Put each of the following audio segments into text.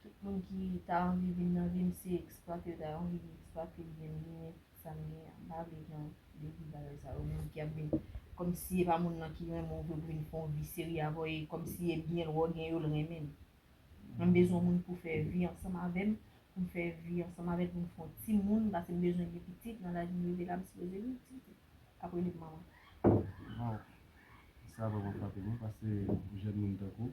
Tout moun ki ta anvi vin nan vim se eksplwate yo ta anvi eksplwate byen m genyen sa m genyen m pa vle jan de vi bagay sa yo moun ki ap vin kòmsi e pa moun lan ki renmen w vre pou vin fè yon vi serye avè w e kòmsi e byen l wè w genyen yo l renmen l mwen m bezwen yon moun pou fè vi ansanm avè m pou m fè vi ansanm avè l pou m fè yon ti moun pase m bezwen gen pitit nan laj m rive la m sipoze gen yon ti k ap rele m manman. Waw sa vreman frape mwen pase jèn moun tankou w.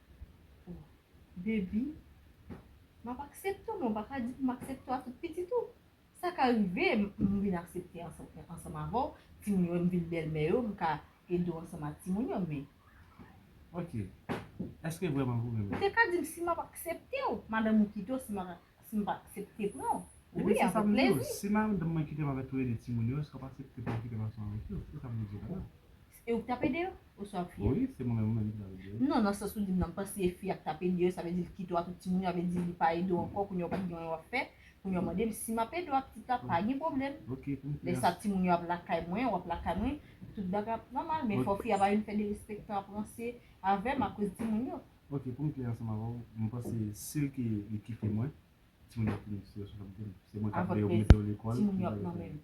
Oh baby map aksepte w men ou pa ka di pou m aksepte w a tout pitit ou. Sa ka rive m vin aksepte ansanm avè w, timoun yo wè m vin bèlmè yo m ka ede w ansanm ak timoun yo men. Ok eske vrèman pou renmen m. Ou te ka di m si map aksepte w madanm mwen kite w si m pa aksepte pran w. Ebyen se sa m di w si madanm mwen kite m avè tou le 2 timoun yo eske w ap aksepte pou m kite m ansanm avèk yo se sa m vle di w la. E ou ki t ap ede yo? Oswa fi a? Wi, se mwen menm ki t ap ede yo. Non, nan sans ou di m nan, m panse e fi a ki t ap ede yo, sa vle di l kite w ak tout timoun yo, sa vle di li pa ede w ankò, kounye a ou pa t gen anyen w ap fè, kounye a w mande m si m ap ede w ak pitit la, pa gen pwoblèm. Ok, pou m fè. Lè sa timoun yo ap lakay mwen, w ap lakay mwen, tout bagay ap nòmal, men fò fi a pa vin fè derespektan ap ranse avè m akoz timoun yo. Ok, pou m klè ansanm avè w, m panse si l ki li kite mwen, timoun yo ap fin strès, se mwen k ap veye w, mete w lekòl, tout bagay sa yo. Avèk plezi, timoun yo ap nan men m.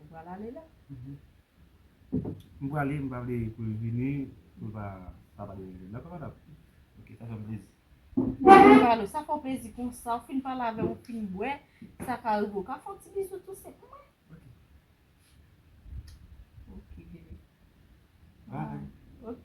Ou pral ale la? M prale m pa vle pou l vini pou l pa sa pa deranje m dakò madam? Ok sa fè m plezi. Mezanmi Valo sa fè w plezi konsa ou fin pale avè m ou fin bwè sa ka rive ou ka fè yon ti bizou tou se pou mwen? Ok Ok bebe Bye Ok.